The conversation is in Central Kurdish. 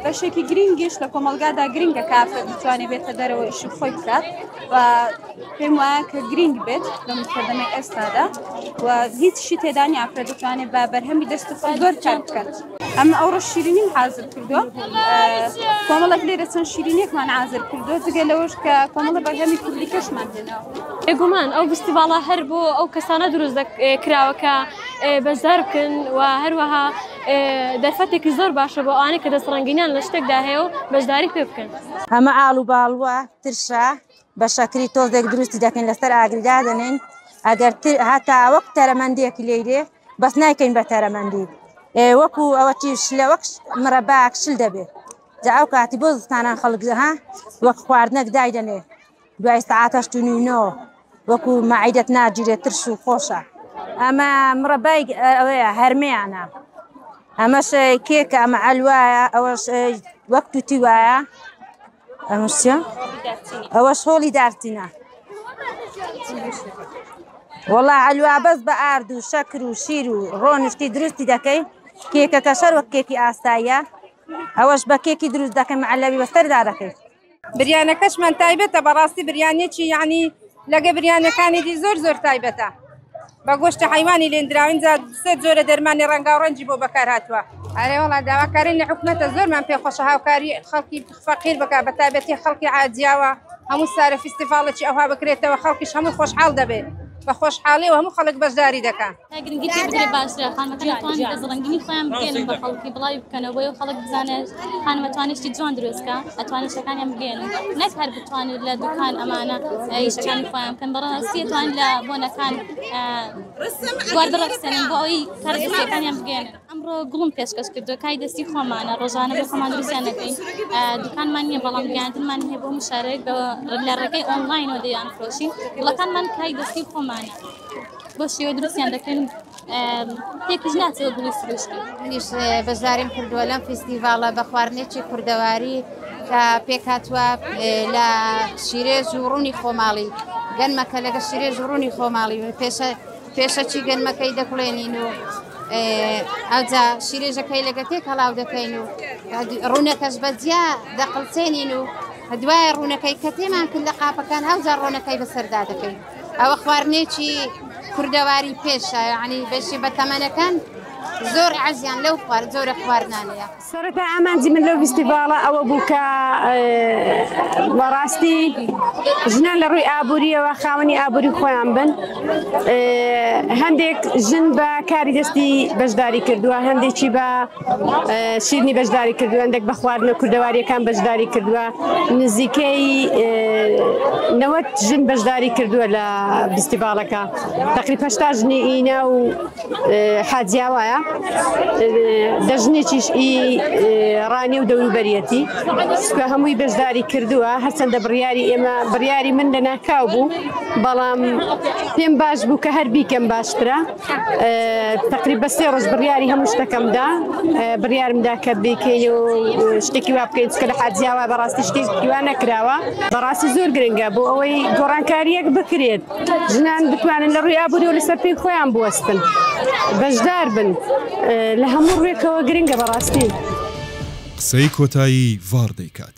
بەشێکی گرنگیش لە کۆمەلگادا گرنگە کافە بتوانێت بێتە دەرەوە ئیشی خۆی بکات و پێم وایە کە گرنگ بێت لە مکردنە ئێستادا و هیچ شی تێدانی ئافرە دەتوانێت بە بەرهەمی دەست خۆ زۆر کار بکات ئەمە ئەوڕۆ شیرینیم حازر کردووە کۆمەڵک لێرە چەند شیرینێکمان حازر کردووە جگە لەوەش کە کۆمەڵە بەرهەمی کوردی کەشمان دێنەوە بێگومان ئەو گستی باڵا هەر بۆ ئەو کەسانە دروست کراوەکە بەشدار بکەن و هەروەها دەرفەتێکی زۆر باشە بۆ ئەوانەی کە دەستڕەنگینیان لە شتێکدا هەیە و بەشداری پێ بکەن. ئەمە ئاڵ و باڵوە، ترشە، بە شەکری تۆزێک دروستی دەکەین لەسەر ئاگری دادەنێین ئەگەر هەتا وەک تەرەمەندێکی لێیرێ بەس نایکەین بە تەرەمەندی وەکو ئەوە تیش لە وەک مرەباکشل دەبێت جا ئەو کاتی بۆ زستانان خەڵک ها وەک خواردنەک دایدەنێ دوای سەعات هەشت و نیو نۆ وەکو مەعیدەت ناگیرێت ترش و خۆشە ئەمە مڕەبای ئەوەیە هەرمیانە ئەمەش کێکە ئەمە ئەلوایە ئەوەش وەک توتی وایە ئەمشە ئەوەش هۆڵی دارتینە وڵا ئەلوا بەس بە ئارد و شەکر و شیر و ڕۆنشتی دروستی دەکەی کێکەکە شەر وەک کێکی ئاساییە ئەوەش بە کێکی دروست دەکەم عەلەوی بەسەردا دەکەیت بریانەکەشمان تایبەتە بەڕاستی بریانێکی یعنی لەگە بریانەکانی دی زۆر زۆر تایبەتە بە گۆشتی حیوانی لێندراوین جا سێ جۆرە دەرمانی ڕەنگاو ڕەنجی بۆ بەکار هاتووە ئەرێ وڵا داواکارین لە حکومەتە زۆرمان پێ خۆشە هاوکاری خەڵکی فەقیر بکە بە تایبەتی خەڵکی عادیاوە هەموو سارە فیستیڤاڵێکی ئەوها بکرێتەوە خەڵکیش هەموو خۆشحاڵ دەبێت بە خۆشحاڵی و هەموو خەڵک بەشداری دەکە. گرنگی پێ بدرێ باشترە خانمەکان ئەتوانن دەست ڕەنگینی خۆیان بگەیەنن بە خەڵکی بڵاوی بکەنەوە بۆیە خەڵک بزانێت خانم ئەتوانێت شتی جوان دروست بکا ئەتوانێت شتەکانیان بگەیەنن نەک هەر بتوانێت لە دوکان ئەمانە شتیانی خۆیان بکەن بەڕاستی ئەتوان لە بۆنەکان گواردە ڕەخسێنن بۆ ئەوی کار دروستەکانیان بگەیەنن ئەمڕۆ گوڵم پێشکەش کردو کای دەستی خۆمانە ڕۆژانە بۆ خۆمان دروستیان نەکەین دوکانمان نییە بەڵام گەیاندنمان هەیە بۆ مشارەیەک بە لە ڕێگەی ئۆنلاینەوە دەیان فرۆشین گوڵەکانمان کای دەستی خۆمانە بۆ شێوە دروستیان دەکەن تێکش ناچێت گوڵی سروشتی منیش بەشداریم کردووە لەم فیستیڤاڵە بە خواردنێکی کوردەواری کە پێکاتوە لە شیرێ ژوڕوونی خۆماڵی گەنمەکە لەگە شیرێ ژوڕوونی خۆماڵی پێشە پێشەکی گەنمەکەی دەکڵێنین و ئەوجا شیرێژەکەی لەگە تێک هەڵاو دەکەین و ڕوونەکەش بە جیا دەقلسێنین و دوای ڕوونەکەی کە تێمان کرد لە قاپەکان ئەوجا ڕۆنەکەی بەسەردا دەکەین ئەوە خواردنێکی کوردەواری پێشە یانی بەشی بەتەمەنەکان زۆر عزیان لەو خوارد زۆرە خواردنانەیە. سەرەتا ئامانجی من لەو فیستیڤاڵە ئەوە بوو کە بەڕاستی ژنان لە ڕووی ئابووریەوە خاوەنی ئابووری خۆیان بن هەندێک ژن بە کاری دەستی بەشداری کردووە هەندێکی بە شیرنی بەشداری کردووە هەندێک بە خواردنە کوردەواریەکان بەشداری کردووە نزیکەی نەوە ژن بەشداری کردووە لە بیستیباڵەکە تقری پشتا ژنی ئینا و حاجیاوایە دەژنێکیش ئی ڕانێ و دەوروبەرەتی سکە هەمووی بەشداری کردووە هەرچەندە بڕیاری ئێمە بڕیاری من لە ناکاو بوو بەڵام پێم باش بوو کە هەر بیکەم باشترە تقریب بە سێ ڕۆژ بڕیاری هەموو شتەکەمدا بڕیارمدا کە بکەین و شتێکی وا بکەین کە لە حاجیاوە بەڕاستی شتێکی وا نەکراوە بەڕاستی زۆر گرنگە بۆ ئەوەی گۆڕانکاریەک بکرێت ژنان بتوانن لە ڕووی ئابووری و لەسەر پێی خۆیان بوەستن بەشدار بن لە هەموو ڕوێکەوە گرنگە بەڕاستی. قسەی کۆتایی ڤاڕ دەیکات.